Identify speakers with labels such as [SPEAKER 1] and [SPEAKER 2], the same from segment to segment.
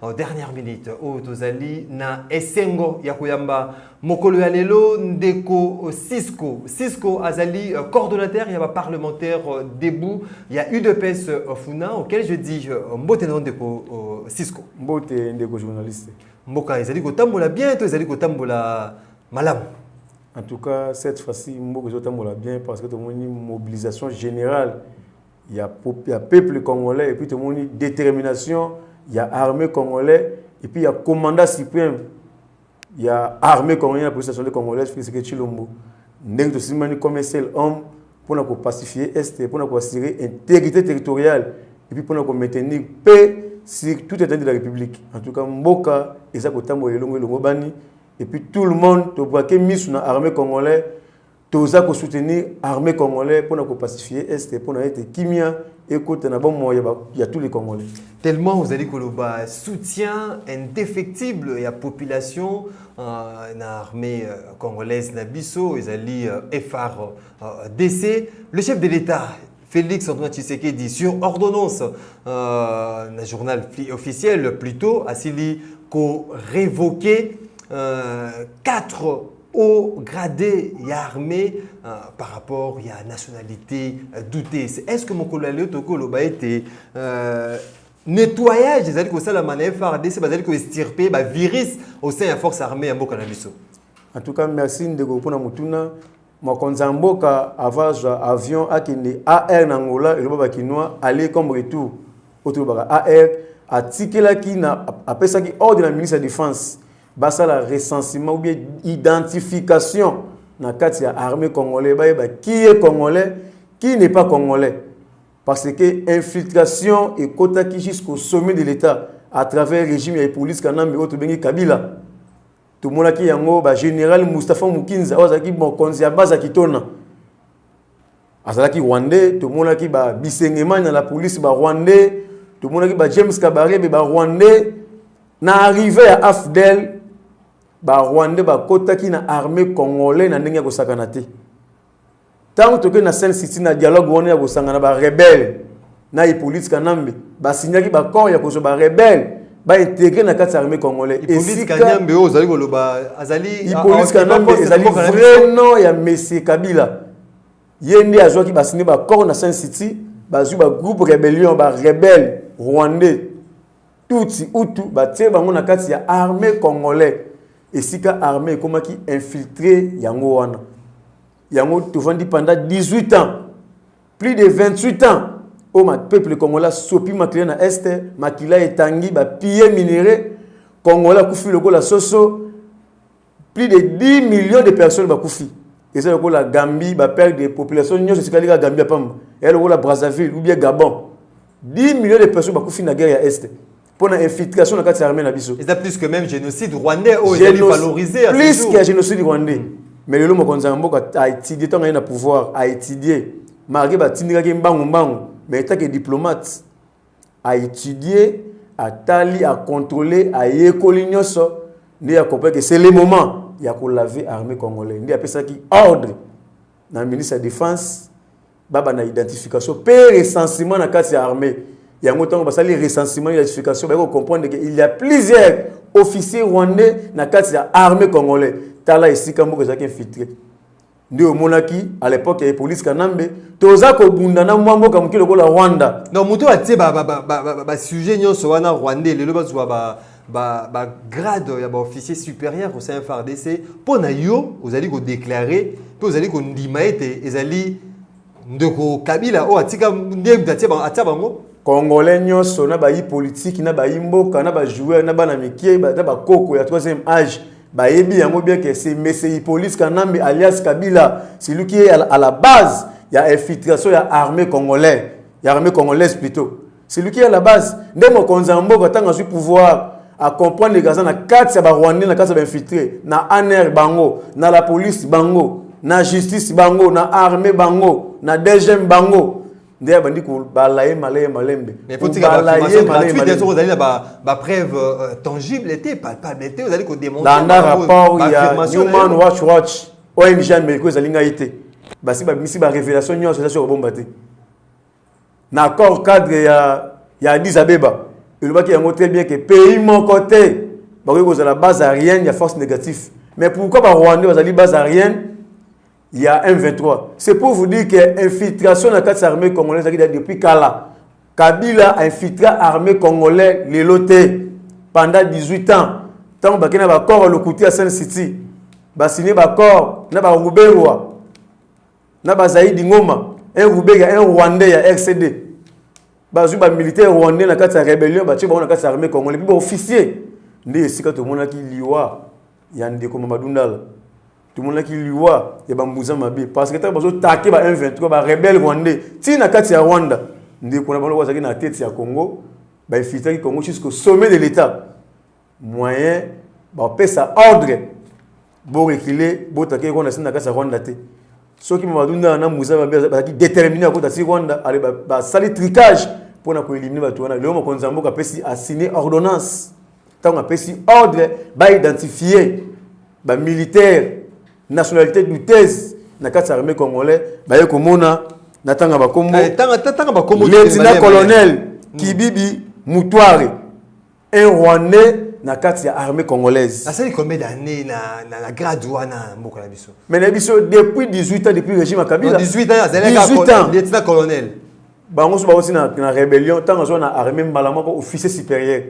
[SPEAKER 1] en dernière minute oyo tozali na esengo ya koyamba mokolo ya lelo ndeko cisco cisco azali euh, coordonnateur ya baparlementaire euh, debout ya udps euh, funa auquel je dis mbote na ndeko cisco mbote ndeko
[SPEAKER 2] journaliste mboka ezali
[SPEAKER 1] kotambola bien to ezali kotambola malamu en tout
[SPEAKER 2] cas cette fois-ci mboka ezotambola bien parce que tomoni mobilisation générale ya ya peuple congolais et puis tomoni détermination ya armée congolais et puis ya commandant suprême ya armée congolaise ya police nationale congolaise Félix Tshilombo ndenge tosimbani comme un seul homme mpona kopacifier est mpona koassure intégrité territoriale epuis mpona komaintenir paix sur tout état de la république en tout cas mboka eza kotambola elongo elongobani epuis tout le monde tobwake miso na armée congolais Toza ko soutenir armée congolais pona ko pacifier est pona ete kimia ekota na bomoi ya, ya tous les congolais. Tellement ozali
[SPEAKER 1] koloba soutien indéfectible ya population euh, na armée euh, congolaise na biso ezali euh, FRDC. Euh, le chef de l'État Félix Antoine Tshisekedi sur ordonnance euh, na journal officiel plutôt asili ko révoquer euh, quatre hauts gradés ya armée euh, par rapport ya nationalité euh, douteuse est-ce que mokolo ya leo tokoki koloba ete euh, nettoyage ezali kosalama na frdc bazali koestirpe bavirus au sein ya force armée ya mboka na biso en tout cas
[SPEAKER 2] merci ndeko mpona motuna Mokonzi ya mboka ava azwa avion akende AR na Angola eloba ba kinois aller comme retour oyo tolobaka AR atikelaki na apesaki ordre na ministre ya defense basala recensement ou bien identification na kati ya armée congolais bayeba qui est congolais qui n'est pas congolais parce que infiltration ekotaki jusqu'au sommet de l'état à travers régime ya Hippolyte Kanambe oyo tobengi Kabila tomonaki yango ba general Mustafa Mukinza oyo azalaki mokonzi ya baza kitona azalaki rwandais tomonaki ba bisengemani na la police ba rwandais tomonaki ba James Kabarebe ba rwandais na arrivée ya AFDEL ba rwandais bakotaki na armée congolais na ndenge ya kosakana te ntango tokei na sainte city na dialogue wana ya kosangana barebele na hippolyte kanambe basignaki baccord ya kozwa barebele baintegre na kati ya armée congolais esikanyambe oyo
[SPEAKER 1] ozali koloba azali hippolyte kanambe
[SPEAKER 2] ezali vrai nom ya messie kabila ye nde azwaki basini baccord na sainte city bazwi bagroupe rebellion barebele rwandais tutsi utu batie bango na kati ya armée congolais esika armée ekomaki infiltre yango wana yango tovandi pendant 18 ans plus de 28 ans oyo oh, peuple congolais asopi makila na est makila etangi bapille minerais congolais akufi lokola soso plus de 10 millions de personnes bakufi eza lokola gambie baperte de population nyonso etikali kaka gambie ya pamba eya lokola brazzaville ou bien gabon 10 millions de personnes bakufi na guerre ya est mpo na infiltration na kati ya armée na biso eza plus que même génocide
[SPEAKER 1] rwandais oyo ezali valorisé plus que génocide
[SPEAKER 2] rwandais mm. mais lelo mokonzi ya mboka aétudie ntango aye na pouvoir aétudie marke batindikaki mbangu mbangu mais etake diplomate a étudier atali a contrôler ayekoli nyonso nde a comprendre que c'est le moment ya ko laver armée congolais nde apesaki ordre na ministre ya défense babanda identification mpe recensement na kati ya armée yango ntango basali recensement identification baye kocomprendre ke il y a plusieurs officier rwandais na kati ya armée congolais tala esika moko ezalaki infiltre nde omonaki à l'époque ya police kanambe toza kobunda na mwa mboka moke lokola rwanda donc moto oyo atie
[SPEAKER 1] basujet nyonso wana rwandais lelo bazwa bagrade ya baofficier supérieur au sein frdc mpo na yo ozali kodeklare mpe ozali kondima ete ezali ndeko kabila oyo atika nde moto atia bango congolais nyonso
[SPEAKER 2] na bayi politiki na bayi mboka na bajoueur na bana mikie na bakoko ya troisième age bayebi yango bien que c'est monsieur hippolyte kanambe alias kabila celui qui est à la base ya infiltration ya armée congolais ya armée congolaise plutôt celui qui est à la base nde mokonzi ya mboka ntango azwi pouvoir acomprendre kaza na kati ya barwandais na kati ya bainfiltre na anr bango na la police bango na justice bango na armée bango na dgm bango nde abandi kobala ye malaye malembe ozali
[SPEAKER 1] na bapreuve euh, tangible te palpable te ozali kodemonlanda rapport
[SPEAKER 2] ya human watch watch ong amerika ezali ngai te basi babimisi barévélation nyonso eza soki kobomba te na accord cadre ya, ya Addis Abeba elobaki yango très bien que pays moko te bakoki kozala base aérienne ya force négative mais pourquoi barwandais bazali base aérienne ya M23 c'est pour vous dire que infiltration na kati ya armée congolaise ezalaki depuis kala kabila infiltra armée congolais lelo te pendant 18 ans ntango bakei na baaccord ya lokuti ya sen city basigne baaccord na baruberwa na bazaidi ngoma un rubega un rwandais ya rcd bazwi bamilitaire rwandais na kati ya rébellion batye bango na kati ya armée congolais mpe baofficier nde esika tomonaki liwa ya ndeko mamadundala tomonaki liwa ya bambuza mabe parce que ntango bazotake ba 123 barebele rwandais tii na kati ya rwanda ndeko na bango azalaki na tete ya congo bainfiltraki congo jusqu'au sommet de l'état moyen bapesa ordre borekile botake rwanda sina kasa rwanda te soki mamadunda na musa bazalaki déterminé akota si rwanda ale basali tricage mpo na koelimine bato wana lelo mokonzi ya mboka apesi asigne ordonnance ntango apesi ordre baidentifie bamilitaire nationalité douteuse na kati ya armée congolais baye komona natanga bakombo eh, lieutenant colonel kibibi mutware un rwandais na kati ya armée congolaise nasali combien d'année
[SPEAKER 1] na, na, na grade wana mboka na biso mais na biso depuis
[SPEAKER 2] 18 ans depuis régime ya kabila 18 ans azalaki
[SPEAKER 1] 18 ans lieutenant colonel bango so bauti
[SPEAKER 2] na, na rébellion ntango azwa na armée mbala moko officier supérieur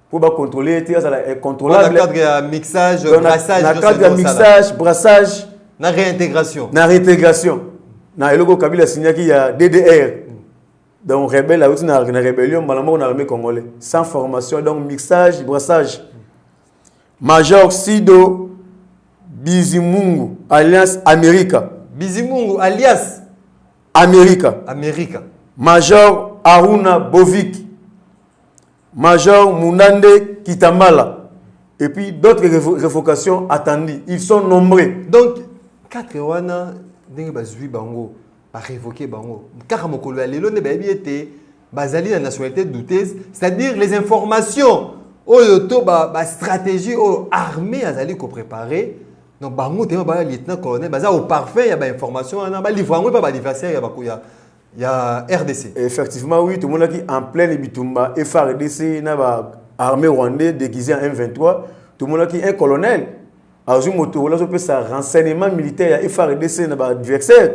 [SPEAKER 2] mpo bacontrôle ye te azala incontrôlable cadre ya
[SPEAKER 1] mixage brassage na cadre ya mixage
[SPEAKER 2] brassage na réintégration
[SPEAKER 1] na réintégration
[SPEAKER 2] na eloko kabila asignaki ya ddr donc rebelle auti na rebellion mbala moko na armée congolais sans formation donc mixage brassage major sido bizimungu alliance america bizimungu
[SPEAKER 1] alliance america
[SPEAKER 2] america
[SPEAKER 1] major
[SPEAKER 2] aruna bovik major munande kitambala et puis d'autres révocations attendues ils sont nombreux donc
[SPEAKER 1] 4 wana ndenge bazwi bango ba revoquer bango kaka mokolo ya lelo nde bayebi ete bazali na nationalité douteuse c'est-à-dire les informations oyo to ba, ba stratégie oyo armée azali ko préparer donc bango te ba lieutenant colonel baza au parfum ya ba information wana ba livre yango epa ba adversaire ya bakuya ya RDC effectivement oui tomonaki
[SPEAKER 2] en pleine bitumba FRDC na ba armée rwandais déguisé en M23 tomonaki un colonel azwi moto oyo azopesa renseignement militaire ya frdc na baadversaire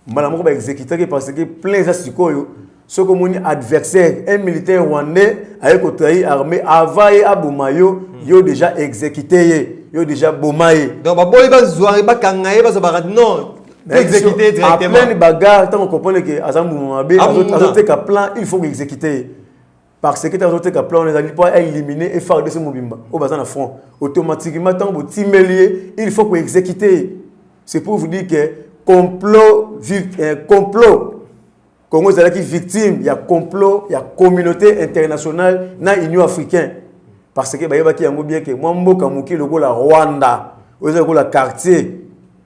[SPEAKER 2] mbala moko baexekitaki parce que plein eza sikoyo soki omoni adversaire un militaire rwandais aye kotrahi armée avant ye aboma yo hmm. yo déjà exécuté ye yo déjà boma ye donc baboyi bazwa
[SPEAKER 1] ye bakanga ye bazwa baka non exécuté directement plein bagarre ntango
[SPEAKER 2] comprendre ke aza mbuma mabe azoteka plan il faut koexécuté ye par secretaire azoteka plan wana ezali mpo aelimine efardc mobimba oyo baza na front automatiquement ntango botimeli ye il faut koexécute ye c'est pour vous dire que complot eh, complot congo ezalaki victime ya complot ya communauté internationale na union africain parce que bayebaki yango bien ke mwa mboka moke lokola rwanda oyo eza lokola quartier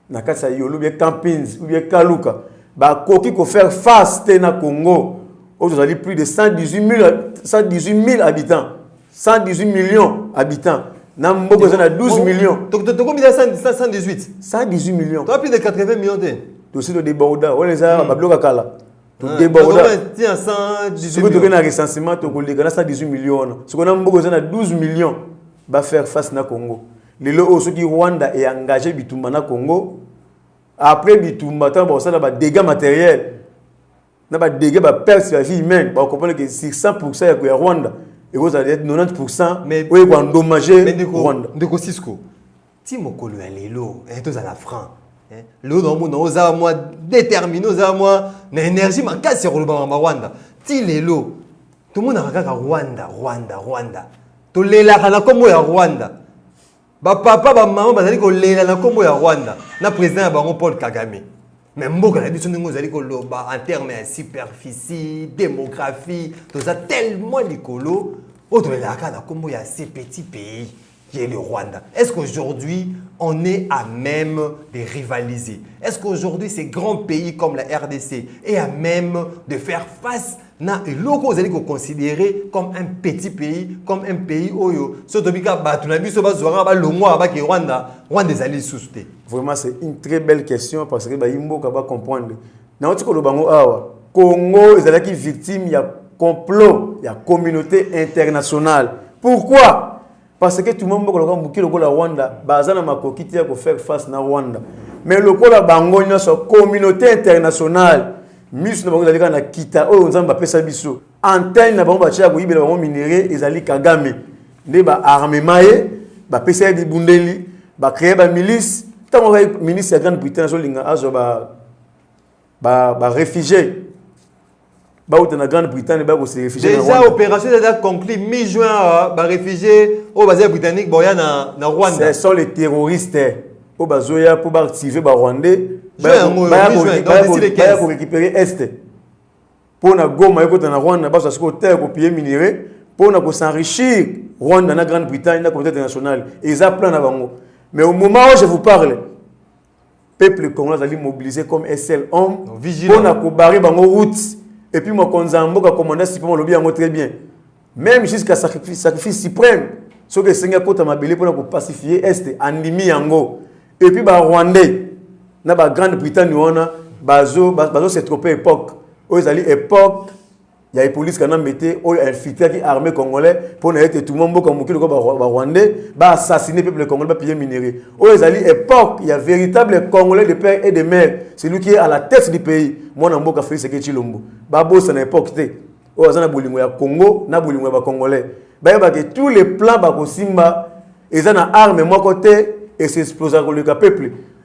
[SPEAKER 2] na kati ya yolo bie campins ou bie kaluka bakoki kofaire face te na congo oyo tozali plus de 118000 habitants 118 millions habitants na mboka eza na 12 millions tokomi na 118 118
[SPEAKER 1] millions toa plus de 80
[SPEAKER 2] millions te
[SPEAKER 1] tosi todeborda
[SPEAKER 2] wana eza hmm. babiloka kala todebordasoki
[SPEAKER 1] toke na recensement
[SPEAKER 2] tokoleka na 118 millions wana soki na mboka eza na 12 millions bafaire face na congo lelo oyo soki rwanda e engage bitumba na congo après bitumba ntango bakosala badégats matériel na badégats baperte ya vie humaine bakokomprendre ke sur 100 pourcent ya koya rwanda ekozala 90 pourcent oyo ekoendommage rwanda ndeko cisco
[SPEAKER 1] ti mokolo ya lelo eh, tozala franc eh, lelo naomona ozala mwa déterminé ozala mwa na énergie makasi ya kolobama na rwanda ti lelo tomonaka kaka rwanda rwanda rwanda tolelaka na nkombo ya rwanda bapapa bamama bazali kolela na nkombo ya rwanda na président ya bango paul kagame me mboka na biso ndenge ozali koloba en terme ya superficie démographie toza tellement likolo oyo tolelaka na nkombo ya ce petit pays qui est le Rwanda. Est-ce qu'aujourd'hui, on est à même de rivaliser Est-ce qu'aujourd'hui, ces grands pays comme la RDC est à même de faire face na eloko ozali koconsidere comme un petit pays comme un pays oyo soki tobi kaka bato na biso bazwaka balongwaka bake rwanda
[SPEAKER 2] rwanda ezali lisusu te vraiment c'est une très belle question parce que bayi mboka bacomprendre nauti koloba yango awa congo ezalaki victime ya complot ya communauté internationale pourquoi Parce que tout le monde mboka lokola muke lokola Rwanda baza na makoki te ya ko faire face na Rwanda. Mais lokola bango nyonso communauté internationale misu na bango ezali kaka na kita oyo Nzambe apesa biso. Antenne na bango batya koyibela bango minerais ezali Kagame nde ba armement ye bapesa ye bibundeli ba créer ba milice ntango azali ministre ya grande britaine azolinga azwa ba ba ba réfugiés bauta na grande bretagne baya kose réfugie déjà opération eza
[SPEAKER 1] conclu mi juin awa euh, baréfugie oyo baza ya britannique boya na, na rwanda ce sont les terroristes
[SPEAKER 2] oyo bazoya mpo baactive barwandais baya korécupérer est mpo na goma ekota na rwanda bazo asiko terre kopille minerai mpo na kosenrichir rwanda na grande bretagne na communauté internationale eza plan na bango mais au moment où je vous parle peuple congolais azali mobilise comme un seul homme mpo na kobare bango route epuis mokonzi ya mboka commanda supreme alobi yango très bien même jusqu'à sacrifice, sacrifice suprême soki esengi akota mabele mpo na kopacifie este andimi yango epuis barwandais na bagrande britagne wana bazo, bazo se trope époque oyo ezali époque ya epolisi kanambe te oyo infiltraki armée congolais mpo na ete tuma mboka mokili ko barwandais baassassine peuple congolais bapille minerie oyo ezali époque ya véritable congolais de père et de mère celui qui est à la tête du pays mwana mboka félix eke chilombo babosana époque te oyo aza na bolingo ya congo na bolingo ya bacongolais bayebake tous les plans bakosimba eza na arme moko te esexplosaka koleka peuple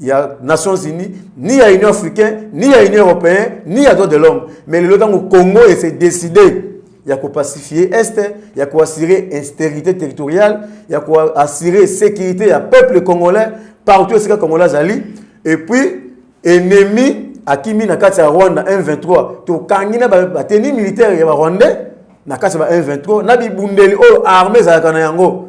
[SPEAKER 2] ya nations unies ni ya union africain ni ya union européen ni ya droit de l'homme mais lelo ntango congo ese décide ya kopacifie est ya koassure instérité territoriale ya koassure sécurité ya peuple congolais partout esika congolais azali et puis ennemi akimi na kati ya rwanda 123 tokangi na bateni militaire ya barwandais na kati ya ba 123 na bibundeli oyo armée ezalaka na yango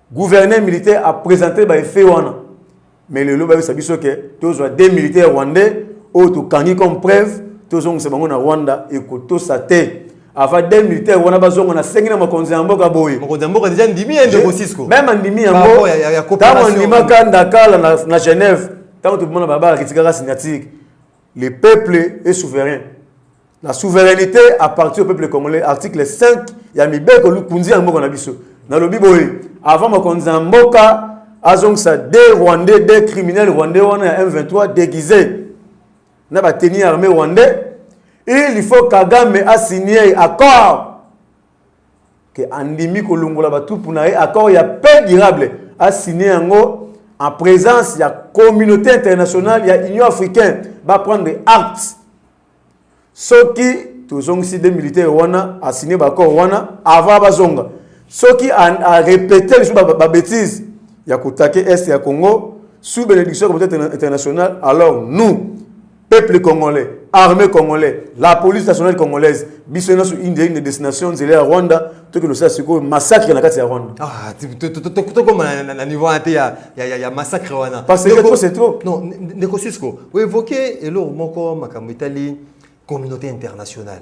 [SPEAKER 2] Gouverneur militaire a presenter ba effets wana. Mais lelo ba yebisa biso ke tozwa des militaires rwandais oyo tokangi comme preuve tozongisa bango na Rwanda ekotosa te. Avant des militaires wana bazonga na sengi na makonzi ya mboka boye. Makonzi ya mboka deja ndimi ya
[SPEAKER 1] ndeko Cisco. Même andimi yango.
[SPEAKER 2] Tango andimaka ndakala na Genève tango tobimana babala kitikaka signature Le peuple est souverain. La souveraineté appartient au peuple congolais. Article 5 ya mibeko likunzi ya mboka na biso. Nalobi boye avant mokonzi ya mboka azongisa de rwandais de criminel rwandais wana ya m23 déguisé na bateni armé rwandais il faut kagame asigne accord ke andimi kolongola batupu na ye accord ya paix durable asigne yango en présence ya communauté internationale ya union africaine baprendre acte soki tozongisi de militaire wana asigne baaccord wana avant bazonga soki arepete lisusu babétise ya kotake est ya congo sous bénédiction ya communauté internationale alors nous peuple congolais armée congolais la police nationale congolaise biso nyonso inde inde destination nzela ya rwanda tokendosala sikoyo massacre na kati ya rwanda ah,
[SPEAKER 1] tokoma na niveau wana te ya massacre wana parce que trop c'est trop
[SPEAKER 2] non ndeko sisko
[SPEAKER 1] oevoke eloko moko makambo etali communauté internationale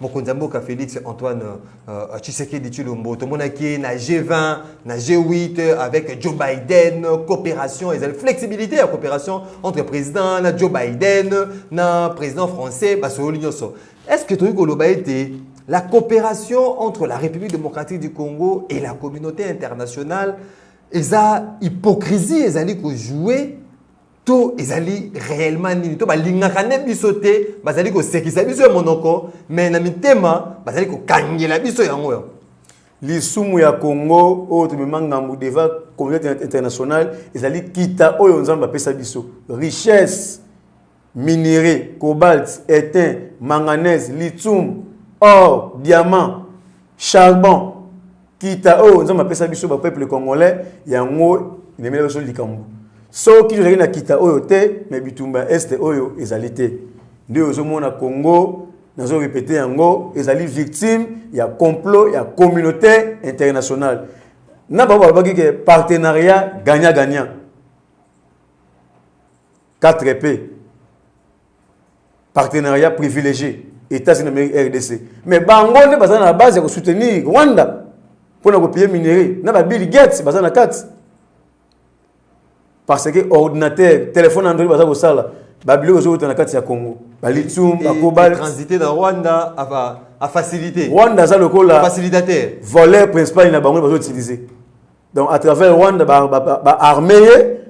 [SPEAKER 1] mokonzi ya mboka félix antoine uh, tshisekedi tshilombo tomonaki ye na g20 na g8 avec joe biden coopération ezali flexibilité ya coopération entre président na joe biden na président français basololi nyonso est ce que tokoki koloba ete la coopération entre la république démocratique du congo et la communauté internationale eza hypocrisie ezali kojoue to ezali réellement nini to balingaka nde biso te bazali kosekisa biso ya monoko me na mitema bazali kokangela biso yango yango lisumu
[SPEAKER 2] ya congo oyo tomema ngambo devant communauté internationale ezali kita oyo nzambe apesa biso richesse minerai cobalt etain manganese lithium or diamant charbon Kita oyo Nzambe apesa biso ba peuple congolais yango ememela biso likambo. Soki tozali na kita oyo te, mais bitumba est oyo ezali te. Ndio ozomona Congo nazo répéter yango ezali victime ya complot ya communauté internationale. Na bango balobaki ke partenariat gagnant gagnant. 4P partenariat privilégié États-Unis d'Amérique RDC. Mais bango nde baza na base ya ko soutenir Rwanda pona ko payer minerais na ba Bill Gates baza na kati. Parce que ordinateur, téléphone Android baza ko sala ba biloko zo na kati ya Congo. Ba lithium, ba cobalt transité na Rwanda
[SPEAKER 1] ava a facilité. Rwanda za lokola
[SPEAKER 2] facilitateur. Voleur
[SPEAKER 1] principal
[SPEAKER 2] na bango bazo utiliser. donc à travers rwanda ba, ba, ba, ba armé ye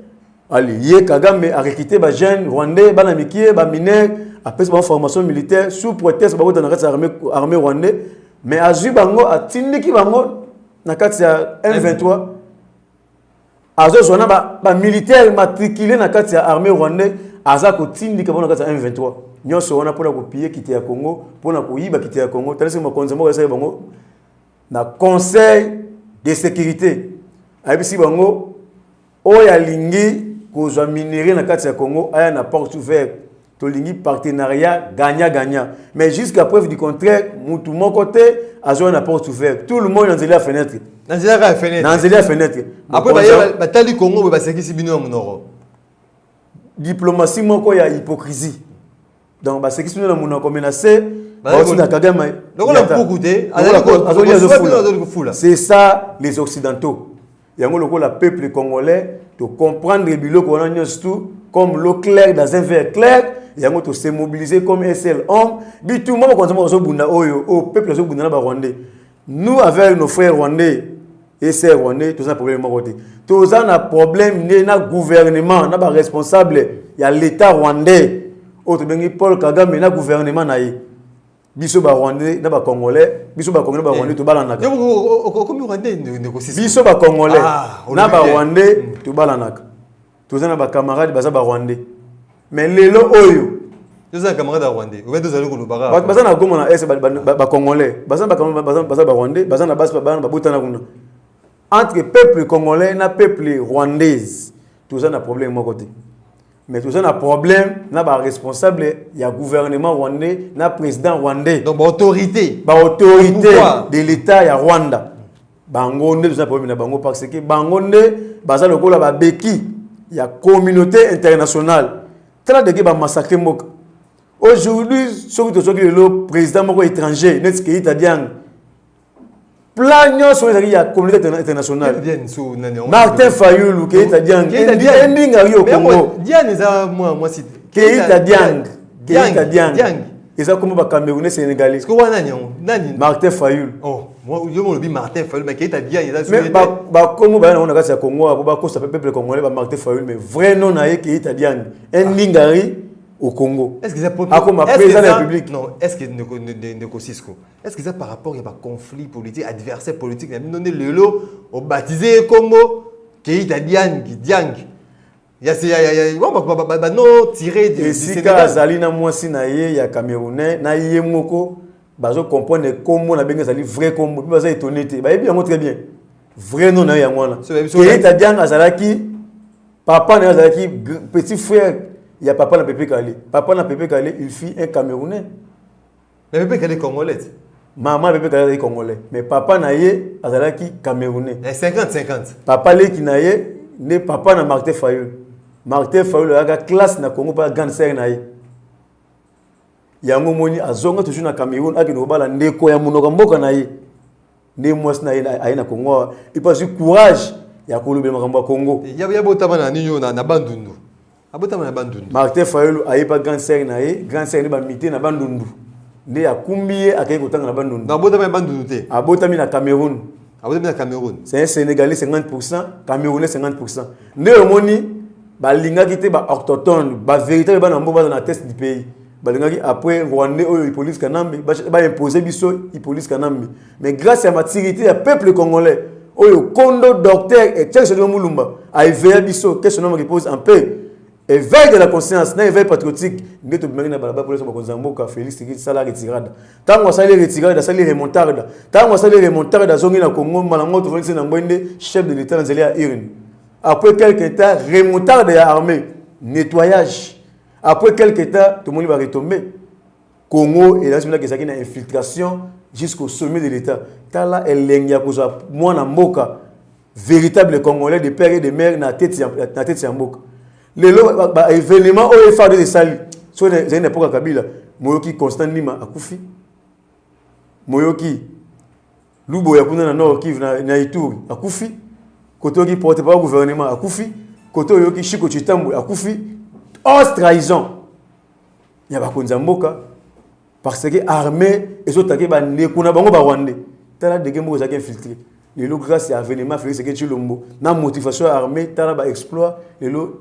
[SPEAKER 2] ali ye kagame arekite ba jeune rwandais bana mikie ba mineur apesi bango formation militaire sous prétexte bakota na kati ya armée, armée rwandais mais azwi bango atindiki bango na kati ya m23 azozwa na bamilitaire ba matricule na kati ya armée rwandais aza kotindika bango na kati ya m23 nyonso wana mpona kopiye kite ya congo mpona koyiba kite ya congo talisi mokonzi moko esali bango na conseil de sécurité ayebisi bango oyo alingi kozwa minerie na kati ya congo aya na porte ouverte tolingi partenariat gagnant gagnant mais jusqu'à preuve du contraire mutu moko te azoya na porte ouverte tout le monde na nzela ya fenêtre na nzela ya fenêtre
[SPEAKER 1] na nzela ya fenêtre
[SPEAKER 2] après baye
[SPEAKER 1] batali congo boye basekisi bino ya monoko
[SPEAKER 2] diplomatie moko ya hypocrisie donc basekisi bino na monoko me na se bauti na kagame
[SPEAKER 1] c'est
[SPEAKER 2] ça les occidentaux yango lokola peuple congolais tocomprendre biloko wana nyonso tout comme l'eau claire dans un verre clair yango tose mobiliser comme un seul homme bitumba bakonzi moko azobunda oyo oyo peuple azobunda na barwandais nous avec nos frères rwandais et sœurs rwandais toza problème moko te toza na problème nde na gouvernement na baresponsable ya l'état rwandais oyo tobengi paul kagame na gouvernement na ye biso barwandais na bacongolais biso bacongolais na barwandais eh. tobalanaka
[SPEAKER 1] biso bacongolais
[SPEAKER 2] ah, na barwandais hmm. tobalanaka toza na ba camarades baza ba rwandais mais lelo oyo toza na camarade
[SPEAKER 1] ya rwandais obe tozali kolobaka bato baza na goma na est
[SPEAKER 2] bacongolais baza na barwandais baza na basi bana babotana kuna entre peuple congolais na peuple rwandaise toza na problème moko te mais toza na problème na baresponsable ya gouvernement rwandais na président rwandais donc baautorité
[SPEAKER 1] baautorité
[SPEAKER 2] de l'état ya rwanda bango nde toza problème na bango parce que bango nde baza lokola babeki ya communauté internationale tala deke bamassacre mboka aujourd'hui soki tozwaki lelo président moko étranger neti keita diang plan nyonso oyo ezalaki ya communauté internationale martin fayulu keita diang endinga yo congo
[SPEAKER 1] keita diang
[SPEAKER 2] keita diang eza kombo ba camerounais sénégalais siko wana nani yango
[SPEAKER 1] nani martin fayul
[SPEAKER 2] oh yo mo
[SPEAKER 1] lobi martin fayul mais keita dia eza mais ba ba
[SPEAKER 2] kombo ba na na kati ya congo abo ba kosa peuple congolais ba martin fayul mais vrai nom na ye keita dia un ah. lingari au Congo. Est-ce que ça propre Akoma
[SPEAKER 1] président de la République
[SPEAKER 2] Non, est-ce que
[SPEAKER 1] Ndeko Cisco Est-ce que ça par rapport à un conflit politique, adversaire politique, il a donné le lot au baptisé Congo, Keita Diang, Diang. ya se ya ya ya wa ba ba ba ba no tiré du du esika Sénégal. azali
[SPEAKER 2] na mwasi na ye ya camerounais na ye moko bazo comprendre kombo na benge ezali vrai kombo mpe baza étonné te bayebi yango très bien vrai nom na ye yango wana So, bayebi soki- keita diang azalaki papa na ye azalaki gr- petit frère ya papa na pepe kale papa na pepe kale il fit un camerounais Mais
[SPEAKER 1] Bebe Kale congolais. Maman Bebe
[SPEAKER 2] Kale congolais, mais papa na ye azalaki camerounais. Eh 50 50.
[SPEAKER 1] Papa leki na
[SPEAKER 2] ye ne papa na Martin Fayulu. Martin Fayulu ayaka classe na Congo pa grande sœur na ye. Yango moni azonga toujours na Cameroun akende kobala ndeko ya monoko mboka na ye. nde mwasi na ye aye na congo awa epe azwi courage ya kolobela makambo ya congo ya botama na nini
[SPEAKER 1] oyo na bandundu abotama na bandundu martin fayulu aye pa
[SPEAKER 2] grande sere na ye grande sere nde bamite na bandundu nde akumbi ye akei kotanga na bandundu abotami na bandundu te
[SPEAKER 1] abotami na cameroun
[SPEAKER 2] abotami na cameroun
[SPEAKER 1] c'est un sénégalais 50
[SPEAKER 2] pourcent camerounais 50 pourcent nde omoni balingaki te ba ortotone ba véritable bana mbo baza na test du pays balingaki après rwandais oyo ipolice kanambe baimpose biso ipolice kanambe mais grâce ya maturité ya peuple congolais oyo kondo docteur echekisodino mulumba aeveya biso que son homme repose en paix éveil de la conscience na éveil patriotique nde tobimaki na balabala polesa bakonzi ya mboka félix tiki sala retirada ntango asali retirada asali remontarda ntango asali remontarda azongi na congo mbala moko tofandisi na ngwe nde chef de l'état na nzela ya urne après quelque temps remontarda ya armée nettoyage Après quelque temps, tout le monde va retomber. Congo et là, c'est une infiltration jusqu'au sommet de l'État. Tala elengi ya kozwa mwana mboka véritable congolais de père et de mère na tete ya, na tete ya mboka. Lelo ba, ba événement oyo efade esali so zali na mpoka Kabila moyoki Constant Nima akufi moyoki Lubo ya kuna na Nord Kivu na, na Ituri akufi, kote oyoki porte-parole gouvernement akufi, kote oyoki Shiko Chitambwe akufi, os trahison ya bakonzi ya mboka parce que armée ezotake bandeko na bango barwandais tala dege moko ezalaki infiltré lelo grâce ya avenement félix eke tshilombo na motivation ya armée tala baexploit lelo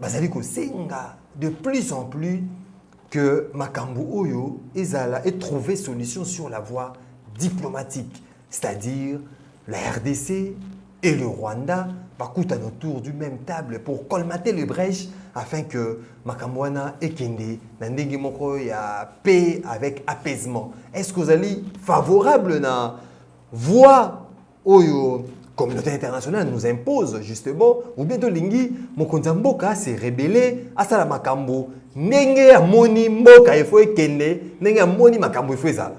[SPEAKER 1] bazali kosenga de plus en plus que makambo oyo ezala et trouver solution sur la voie diplomatique c'est-à-dire la RDC et le Rwanda bakutana autour du même table pour colmater les brèches afin que makambo wana ekende na ndenge moko ya paix avec apaisement est-ce que ozali favorable na voie oyo communauté internationale nous impose justement ou bien tolingi mokonzi ya mboka se rebele asala makambo ndenge amoni mboka efo ekende ndenge amoni makambo efo ezala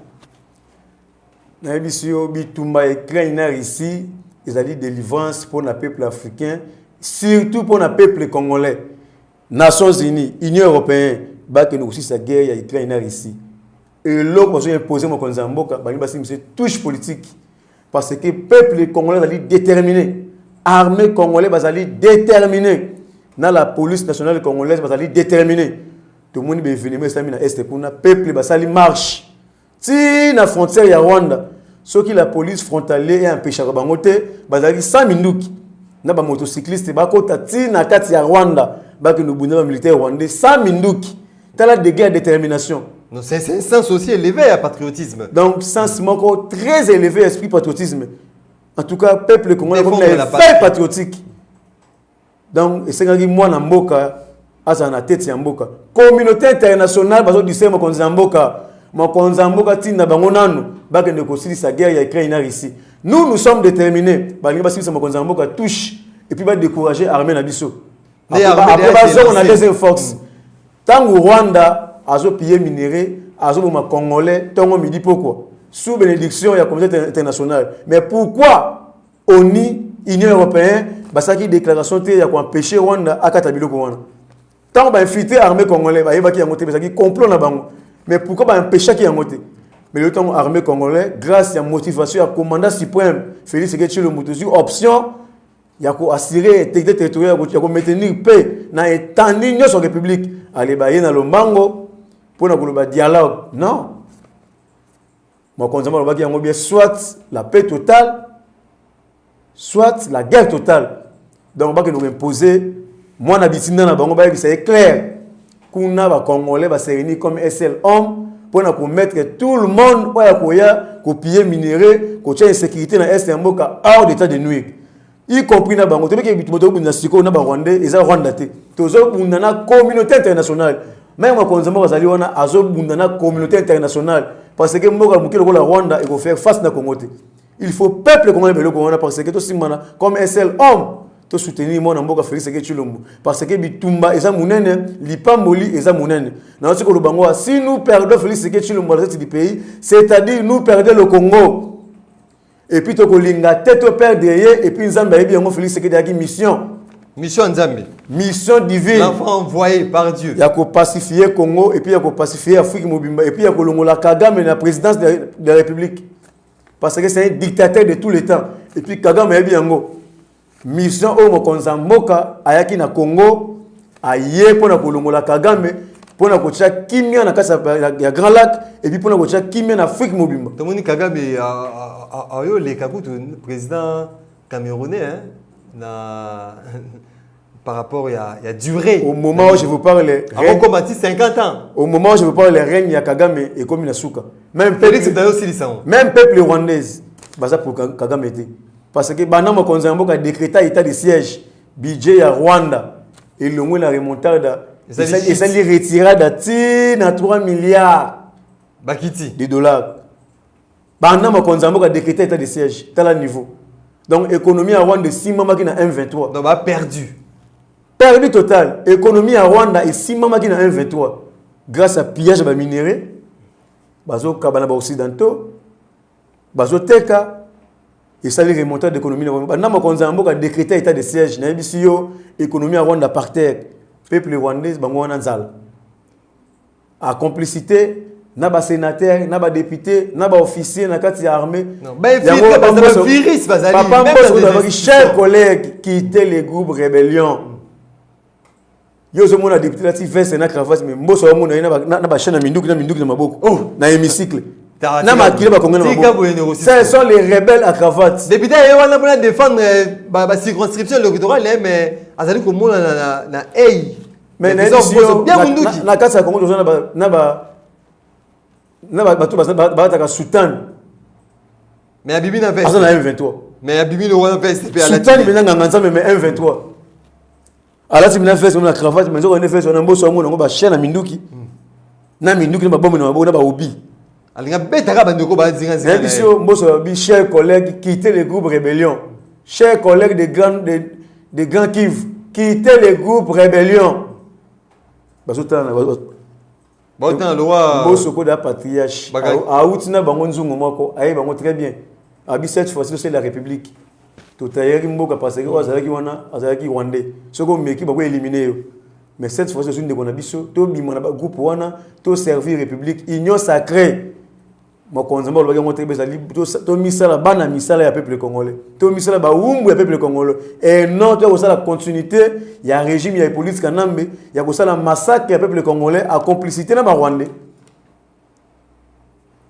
[SPEAKER 2] nayebisi yo bitumba ya ukraine na russie ezali délivrance mpo na peuple africain surtout mpo na peuple congolais nations unies union européen bakende kosilisa guerre ya ukraine na russie eloko bazo imposer mokonzi ya mboka balingi basimbisa touche politique parce que peuple congolais azali déterminé armée congolais bazali déterminé na la police nationale congolaise bazali déterminé tomoni baevenema esalami na este kuna peuple basali marche ti na frontière ya rwanda soki la police frontalier eempeshaka bango te bazalaki 100 minduki na bamotocycliste bakota ti na kati ya rwanda bakende obunda bamilitaire rwandais 100 minduki tala degré ya détermination Non, c'est c'est un sens
[SPEAKER 1] aussi élevé ya patriotisme donc sens moko
[SPEAKER 2] très élevé ya esprit patriotisme en tout cas peuple congolais akomi Défendre na la éveil patrie. patriotique donc esengaki mwana mboka azala na tete ya mboka communauté internationale bazodise mokonzi ya mboka mokonzi ya mboka ntina bango nanu bakende kosilisa guerre ya ukraine na russie nous nous sommes déterminés balingi basilisa mokonzi ya mboka touche epuis badécourage armée na biso après
[SPEAKER 1] bazongo na
[SPEAKER 2] deuxième force ntango mm. rwanda azopille minere azoboma congolais ntongo midi pokwa sous bénédiction ya communauté internationale mais pourquoi oni union européen basalaki déclaration te ya koempêche rwanda akata biloko wana ntango bainfiltre armée congolais bayebaki yango te ezalaki complot na bango mais pourquoi baempêchaki yango te mais le temps armée congolais grâce ya motivation ya commandant suprême félix ekechilo moto ozwi option ya ko assurer intégrité territoriale ya ko maintenir paix na etandi nyonso ya république aleba ye na lombango mpo na koloba dialogue non mokonzi yango alobaki yango bien soit la paix totale soit la guerre totale donc bakende koimpose mwana bitinda na bango bayebisa ye claire kuna ba congolais ba se réunir comme un seul homme mpo na komettre tout le monde oyo akoya kopille minerai kotya insécurité na est ya mboka hors d'état de nuire y compris na bango toyebeke bitu moto obunda sikoyo na barwandais eza rwanda te tozobunda na communauté internationale meme mokonzi moko azali wana azobunda na communauté internationale parce que mboka moke lokola rwanda ekofaire face na congo te il faut peuple congolais ba eloko wana parce que tosimbana comme un seul homme tosoutenir mwana mboka félix eke tshilombo parce que bitumba eza monene lipamboli eza monene nayosi koloba yango wa si nous perdons félix eke tshilombo à la tête du pays c'est à dire nous perdons le congo et puis tokolinga te toperdre ye et puis nzambe ayebi yango félix eke ezalaki mission mission nzambe
[SPEAKER 1] mission divine
[SPEAKER 2] l'enfant envoyé par
[SPEAKER 1] dieu ya kopacifie
[SPEAKER 2] congo et puis ya kopacifie afrique mobimba et puis ya kolongola kagame na présidence de la république parce que c'est un dictateur de tous les temps et puis kagame ayebi yango mission oyo mokonzi ya mboka ayaki na congo aye mpo na kolongola kagame mpo na kotya kimia na kati ya grand lac epuis mpo na kotya kimia na afrique mobimba tomoni kagame
[SPEAKER 1] ayo oleka kutu président camerounais na par rapport ya, ya durée au moment où je vous
[SPEAKER 2] parle akokoma ti
[SPEAKER 1] 50 ans au moment où je vous parle le
[SPEAKER 2] règne ya kagame ekomi na suka même félix dayo osilisa yango même peuple rwandaise baza pour kagame te parce que banda mokonzi ya mboka décréta état de siège budget ya rwanda elongwe na remontada esali retirada ti na 3 milliards bakiti de dollars banda mokonzi ya mboka decreta etat de siège tala niveau donc économie ya rwanda esimbamaki na m23 donc baperdu
[SPEAKER 1] perdu
[SPEAKER 2] total économie ya rwanda esimbamaki na m23 grâce à pillage ya baminerais bazokaba na baoccidentaux bazoteka esali remontant d'économie na banda mokonzi ya mboka decreta état de siège nayebisi yo économie ya rwanda par terre peuple rwandais bango wana nzala a complicité na ba sénateur na ba député na ba officier na kati ya armée papa mboso cher collègue quitter le groupe rébellion yo ozomona député lati veste na cravate mais mboso amona ye na bachaine ya minduki na minduki na maboko oh. na hémicycle na makila bakongo na maboko ce sont les rebelles à cravate député ye wana mpona
[SPEAKER 1] défendre euh, bacirconscription électorale mais azali komonana na ei mais na
[SPEAKER 2] eza obozo bien munduki na kasa kongo toza na ba na ba na ba batu ba ba ta soutane
[SPEAKER 1] mais ya bibi na veste aza na M23 mais ya
[SPEAKER 2] bibi no
[SPEAKER 1] veste pe ala soutane mais na nganga nzambe
[SPEAKER 2] mais M23 alati mina veste na cravate mais nzoko ne veste na mboso yango na ngo ba chaîne na minduki hmm. na minduki na ba bombe na maboko na ba obi alinga betaka
[SPEAKER 1] bandeko bazingazingayebi yo mboso alobi
[SPEAKER 2] cher collègue quitte le groupe rébellion cher collègue de grand, de, de grand kive quitte le groupe rébellion bazotala
[SPEAKER 1] baotala lowa mboso koda patriarche
[SPEAKER 2] awuti na bango nzungu moko aye bango très bien abi cette fois-ci c'est la république totayaki mboka parce que oyo azalaki wana azalaki rwandais soki omeki bakoelimine yo Mais cette fois-ci, ozwi ndeko na biso, tobima na ba groupe wana, to servir République, union sacrée. Mokonzi mbo olobaki yango te bezali tomisala bana misala ya peuple congolais. Tomisala bawumbu ya peuple congolais et non to kosala continuité ya régime ya Hippolyte Kanambe ya kosala massacre ya peuple congolais à complicité na ba rwandais.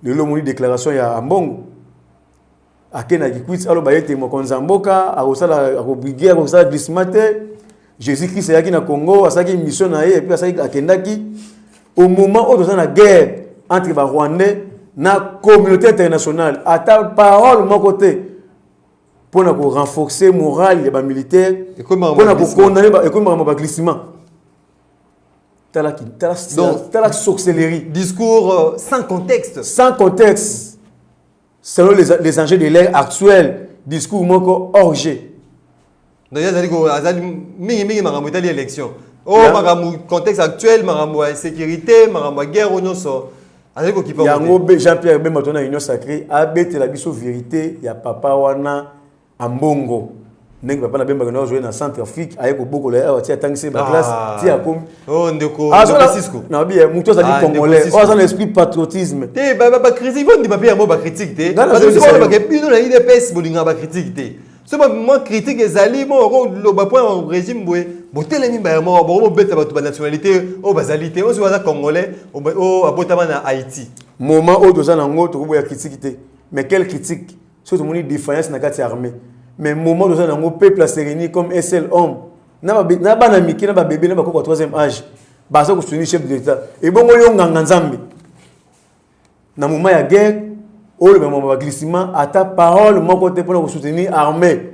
[SPEAKER 2] Lelo moni déclaration ya Ambongo ake na kikwiti aloba ete mokonzi ya mboka akosala akobrige akosala glisma te jésus christ ayaki na congo asalaki mission na ye epuis asalaki akendaki au moment oyo toza na guerre entre barwandais na communauté internationale ata parole moko te mpo na korenforce morale ya bamilitaire mpo na kokondane ekomi makambo baglissement tala sorcellerie discours euh,
[SPEAKER 1] sans contexte sans contexte
[SPEAKER 2] selon les, les enjeux de l'ère actuelle discours moko hors jeu donc
[SPEAKER 1] azali ko azali mingi mingi makambo etali élection o oh, makambo contexte actuel makambo ya sécurité makambo ya guerre oyo nyonso azali kokipa
[SPEAKER 2] yango jean pierre bemba to na union sacré abetela biso vérité ya papa wana Ambongo ndenge papa na bemba kena ozwe na centre afrique aye kobokola ye awa ti atangisi ye baclasse ah. ti akomi oh,
[SPEAKER 1] nabi ye
[SPEAKER 2] motu azali ah, congolais oyo oh, aza na esprit patriotisme te bacritique
[SPEAKER 1] bondima mpe yango bacritique te bake bino na idps bolingaka bacritique te so mwa critique ezali mo okoloba mpo ya régime boye botelemi mbaya moko boko bobeta bato banationalité oyo bazali te osi aza congolais oyo abotama na haïti moment oyo toza na
[SPEAKER 2] yango tokoboya critique te mais quelle critique soki tomoni defiance na kati ya armée mais moment toza nango peuple a se réunir comme un seul homme na bana mike na babebe na bakoko ya troisième âge baza kosungi chef de l'état ebongo yo nganga nzambe na moment ya guerre oyo lobemama baglissement ata parole moko te mpona kosoutenir armée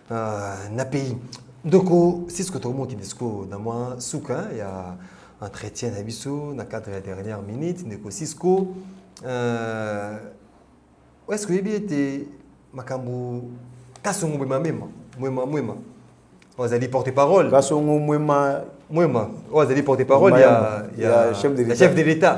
[SPEAKER 1] Ah, na pays ndoko cisco tokomokende sikoyo na mwa suka ya entretien na biso na cadre ya dernière minute ndeko cisco euh, est-ce que oyebi ete makambo kasongo mwema mema mwema mwema oyo azali porte parole kasongo mwema
[SPEAKER 2] mwema oyo
[SPEAKER 1] azali porte parole ya, ya, ya chef de l'état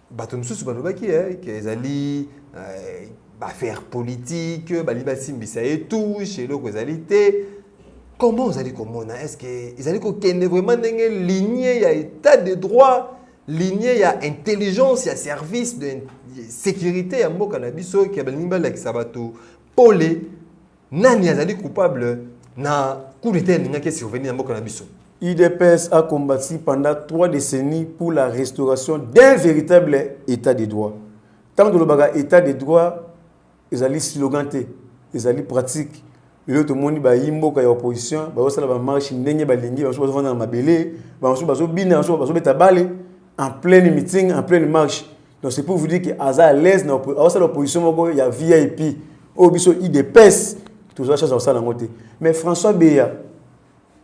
[SPEAKER 1] bato mosusu balobaki eh, ke ezali eh, baaffaire politique balingi basimbisa ye touche eloko ezali te comment ozali komona est ce que ezali kokende vraiment ndenge ligne ya état de droit ligne ya intelligence ya service de sécurité ya mboka na biso ke balingi balakisa bato pole Nani azali coupable na coup d'etat elingaki survenir na mboka na biso? UDPS a
[SPEAKER 2] combattu pendant trois décennies pour la restauration d'un véritable état de droit. Tant de l'obaga état de droit, ils allaient sloganter, ils allaient pratique. Et l'autre monde, bah, imbo, kaya opposition, bah, ça la marche, n'engue, bah, lingi, bah, soit dans ma belé, bah, soit, bah, soit, bina, soit, bah, soit, beta balé, en pleine meeting, en pleine marche. Donc c'est pour vous dire que aza à l'aise na osala opposition moko ya VIP oyo oh, biso IDPS tozwa chance osala yango te. Mais François Beya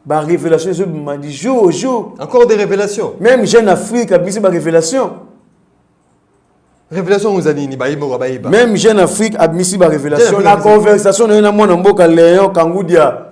[SPEAKER 2] ba révélation ezo bima du jour au jour. Encore des révélations.
[SPEAKER 1] Même Jeune Afrique
[SPEAKER 2] abisi ba révélation.
[SPEAKER 1] Révélation oza nini bayeba oyo bayeba. Même Jeune Afrique
[SPEAKER 2] abisi ba révélation na conversation na ye na mwana mboka Léon Kangudia.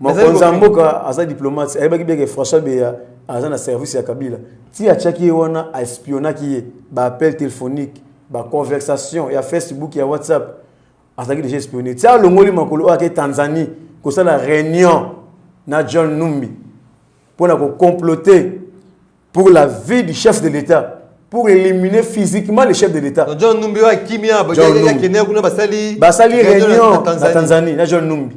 [SPEAKER 2] mokonzi ya mboka aza diplomate ayebaki bien ke françois beya aza na service ya kabila ti atiaki ye wana aespionaki ye baappel téléphonique baconversation ya facebook ya whatsapp azalaki déjà espionne ti alongoli makolo oyo ake tanzanie kosala réunion na john numbi mpo na kocomplote pour la vie du chef de l'état pour éliminer physiquement le chef de l'état john numbi oyo akimia
[SPEAKER 1] bakende kuna basali
[SPEAKER 2] basali réunion na tanzanie na john numbi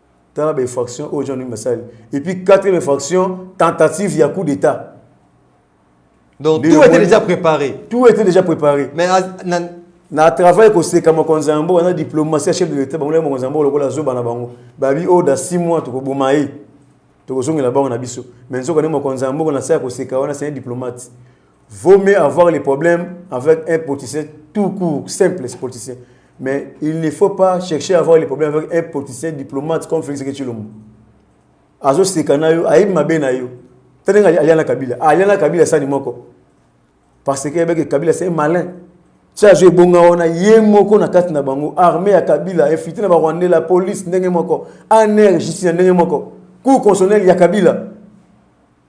[SPEAKER 2] tala ba infraction oyo jean numbi asali et puis quatrième infraction tentative ya coup d'état
[SPEAKER 1] donc tout était déjà préparé tout était déjà préparé
[SPEAKER 2] mais
[SPEAKER 1] na
[SPEAKER 2] travail koseka mokonzi ya mboka na diplomatie ya chef de l'état bango laki mokonzi ya mboka lokola zoba na bango babi oyo da 6 mois tokoboma ye tokozongela bango na biso mais nzoka nde mokonzi ya mboka na se ya koseka wana se diplomate Vaut mieux avoir les problèmes avec un politicien tout court, simple, ce politicien. Mais il ne faut pas chercher à avoir les problèmes avec un politicien diplomate comme Félix Ketchilombo. Azo sekana yo, ayi mabe na yo. Tenenga aliana Kabila. Ah, aliana Kabila sani moko. Parce que avec Kabila c'est malin. Tia azo ebonga wana ye moko na kati na bango armée ya Kabila, infiltré na ba Rwandais, la police ndenge moko, ANR justice ndenge moko. Cour constitutionnelle ya Kabila.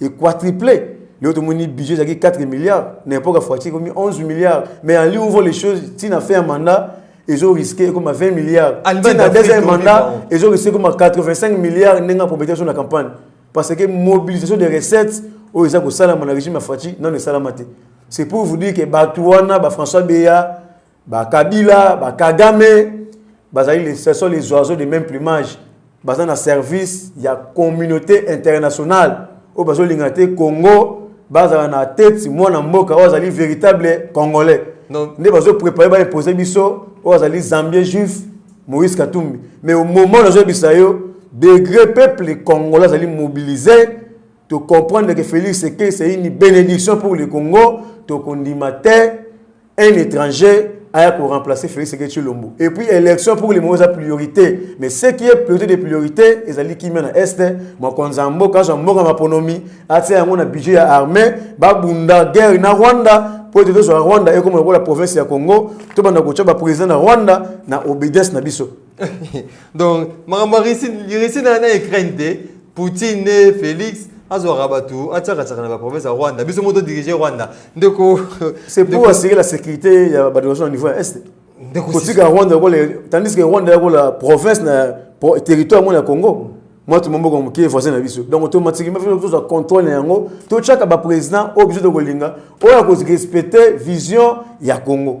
[SPEAKER 2] et quadruplé leo tomoni budget ezalaki 4 milliards na époque ya foiture ekomi 11 milliards mais en ligne ouvre les choses ntina fin ya mandat ezo risque ekoma 20 milliards ntina deuxième mandat ezo risque ekoma 85 milliards ndenge aprobete biso na campagne parce que mobilisation des recettes oyo eza kosalama na régime ya faci nano esalama te c'est pour vous dire que bato wana bafrançois beya ba kabila ba kagame bazali les ce sont les oiseaux de même plumage baza na service ya communauté internationale oyo bazolinga te congo bazala na tete mwana mboka oyo azali véritable congolais nde bazoprépare baimpose biso oyo azali zambien juif moïse katumbi mais omomo nazoyebisa yo degré peuple congolais azali mobilise tocomprendre ke félix eke c'est une bénédiction pour le congo tokondima te un étranger aya ko remplacer Félix Tshisekedi Tshilombo et puis élection pour les moza priorité mais ce qui est priorité de priorité ezali kimia na est mokonzi ya mboka azwa mboka maponomi atia yango na budget ya armée babunda guerre na Rwanda mpo ete tozwa rwanda ekoma lokola province ya congo tobanda kotya baprésident na rwanda na obedience na biso donc
[SPEAKER 1] makambo ya russie na ukraine te poutine ne félix azwaka bato atiakatiaka na baprovince ya rwanda biso moko todirige rwanda ndeko
[SPEAKER 2] c'est pour assurer la sécurité ya bato nyonso na niveau ya est kotika rwanda lokola tandis que rwanda lokola province na territoire yango na congo mwa tomomboka moke voisin na biso donc tomatiki mpe tozwa contrôle na yango totyaka baprésident oyo biso tokolinga oyo akozirespecte vision ya congo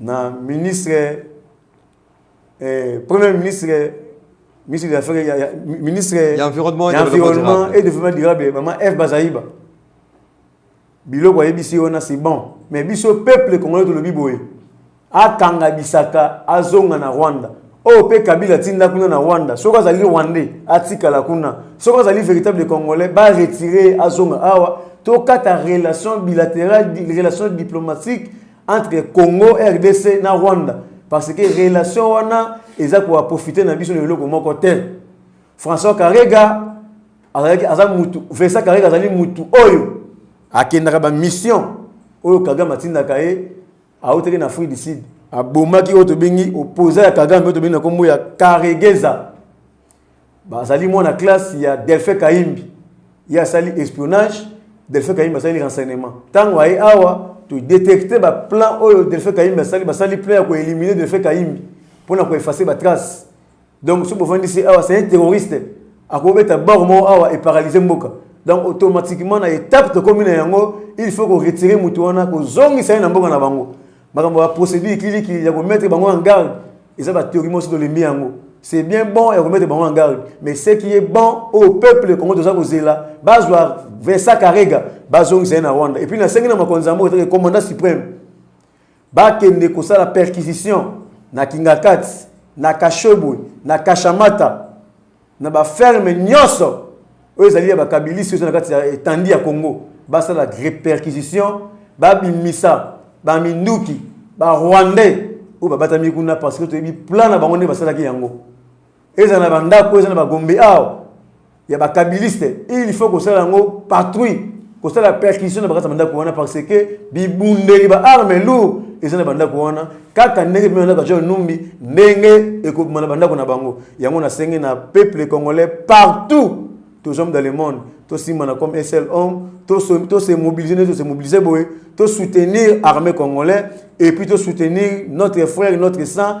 [SPEAKER 2] na ministre eh, premier ministre ministre ya affaire ya, ya ministre ya environnement ya environnement
[SPEAKER 1] et développement
[SPEAKER 2] durable maman F Bazaiba biloko ayebisi wana c'est bon mais biso peuple congolais tolobi boye akanga bisaka azonga na Rwanda oyo oh, mpe kabila atinda kuna na rwanda soki azali rwandais atikala kuna soki azali véritable congolais baretire azonga awa tokata relation bilatérale relation diplomatique entre Congo RDC na Rwanda parce que relation wana eza ko profiter na biso na eloko moko te François Karega azalaki aza mutu Vincent Karega azali mutu oyo akendaka ba mission oyo Kagame atindaka ye autaki na Afrique du Sud abomaki oyo tobengi opposant ya Kagame oyo tobengi na kombo ya Karegeza bazali mwana classe ya delphin kaimbi ye asali espionnage delphin kaimbi asali renseignement ntango aye awa todetecte baplan oyo delphin kaimbi asali basali plan ya koelimine delphin kaimbi mpo na koefase batrace donc soki bofandisi awa c'est un terroriste akobeta bor moko awa eparalyse mboka donc automatiquement na étape tokomi na yango il faut ko retirer moto wana kozongisa ye na mboka na bango makambo ya procédure kilikili ya komettre bango en garde eza batheorie mosi tolembi yango c'est bien bon ya komettre bango en garde mais ce qui est bon au peuple kongo toza kozela bazwa vincent karega bazongisa ye na rwanda epuis nasengi na mokonzi yango ezalaki commandant suprême bakende kosala perquisition na kingakati na kashebwe na kashamata na ba ferme nyonso oyo ezali ya bakabilisi oyo na kati ya etandi ya congo basala perquisition babimisa baminduki barwandais oyo babatami kuna parce que toyebi plan na bango nde basalaki yango ezala na bandako eza na bagombe awa ya bakabiliste il faut kosala yango patrouille kosala perquisition na bakati ya bandako wana parce que bibundeli ba arme lourd eza na bandako wana kaka ndenge bino bandako ya john numbi ndenge ekobima na bandako na bango yango nasengi na peuple congolais partout tozwami dans le monde tosimbana comme un seul homme tose mobilise nde tose mobilise boye tosoutenir armée congolais et puis tosoutenir notre frère notre sang